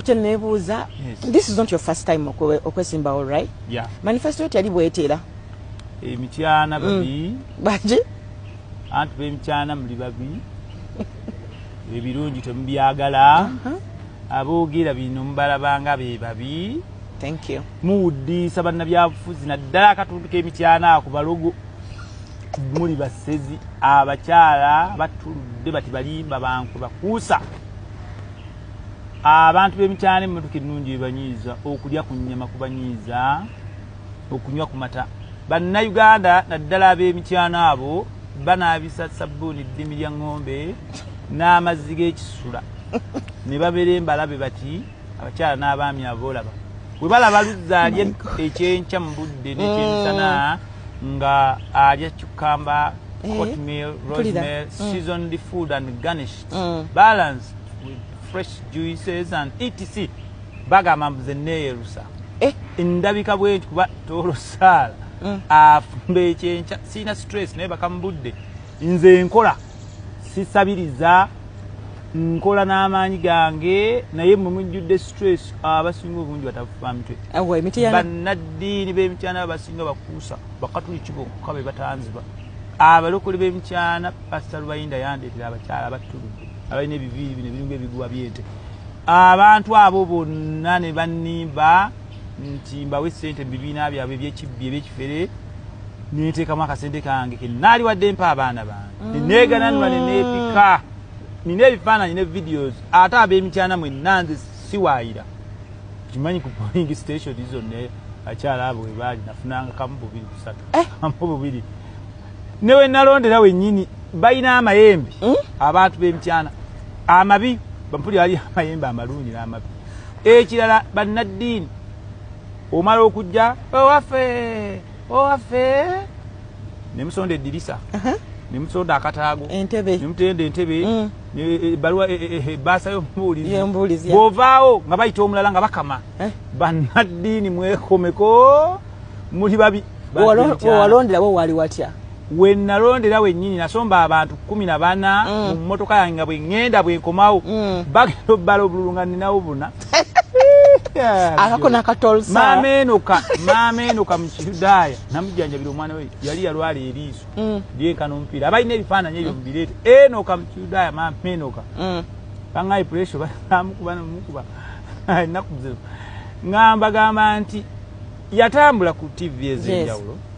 kyenebuuza this is not your first time okwesimbawo right yeah. manifesto yo tyali bwetera emityana mm. babi baki anti bemityana muli babi ebirungi temubyagala uh-huh. aboogera bino mubalabanga be babi muwuddiisa bannabyabufuzi naddala akatundu k'emityana ako balogo muli basezi abakyala batuludde bati balimba bankwe bakuusa abantu b'emikyalo emmotoka ennungi bebanyiiza okulya ku nnyama kubanyiiza okunywa ku mata bannayuganda naddala ab'emikyano abo banaabisa sabbuuni ddimi lya ŋŋombe n'amazzi g'ekisula ne babeera embalabe bati abakyala n'abaami aboolaba bwe balaba luzza alya ekyenkya mu budde n'ekyemisana mm. nga alya cukamba eh, hotmail rosemel mm. seasoned food and garnish mm. balanced with fresh juices and etc bagamba mbuze neyerusa eh? endabika bwenti kuba tolosaala mm. afumba ekyenkya sirina stress naye bakamubudde nze nkola sisabiriza nkola n'amaanyi gange naye mwe mujjudde stress abasinga obungi batafuba mitwe bannaddiini b'emityana abasinga bakuusa bakatuliki bokka be batanziba Abalokole b'emkyana Pasita Lubayinda yandeetera abakyala abattulude abalina ebiviiri bino ebiringa ebiguwa by'ente. Abantu abo bonna ne bannimba nti mbawe ssente mu bibiina byabwe eby'ekibbi eby'ekifere ne nteekamu akasente kange ke nnaali wadde mpa abaana bange ne neegananula ne neepika. Nina ebifaananyi ne videos ate ab'emikyana mwenna nze siwaayira. kimanyi ku polling station zonna akyala abo webaali nafunanga kamu bubiri kusatu eh? kamu bubiri newenalondera wenyini balina amayembe hmm? abantu bemityana amabi bampuli ali amayembe amalungi n'amabi ekirala bannaddiini omala okujja owaffe owaffe ne musonda eddirisa ne musonda akataago entebe ne mutenda entebe mm. ne e, e, baluwa e, baasa y'omubuulizi y'omubuulizi bw'ovaawo nga bayita omulala nga bakama eh? bannaddiini mwekomeko muli babi wewalonderawo waali watya we nalondera wennyini nasomba abantu kumi na bana mm. mu mmotoka yange nga bwe ŋŋenda bwe nkomawo mm. bagenda obbala obululu nga nninawo buna akako nakatolsamaama eno ka maama eno ka mukiyudaaya namujanjabira omwana we yali yalwala eriiso mm. lyenkana omupiira abalina ebifaananyi ebyo mubireete eno ka mukiyudaaya maama eno ka mm. bangaye puresho bamukuba nomukuba enaku zino ngamba gamba nti yatambula ku tv ezenjawulo yes.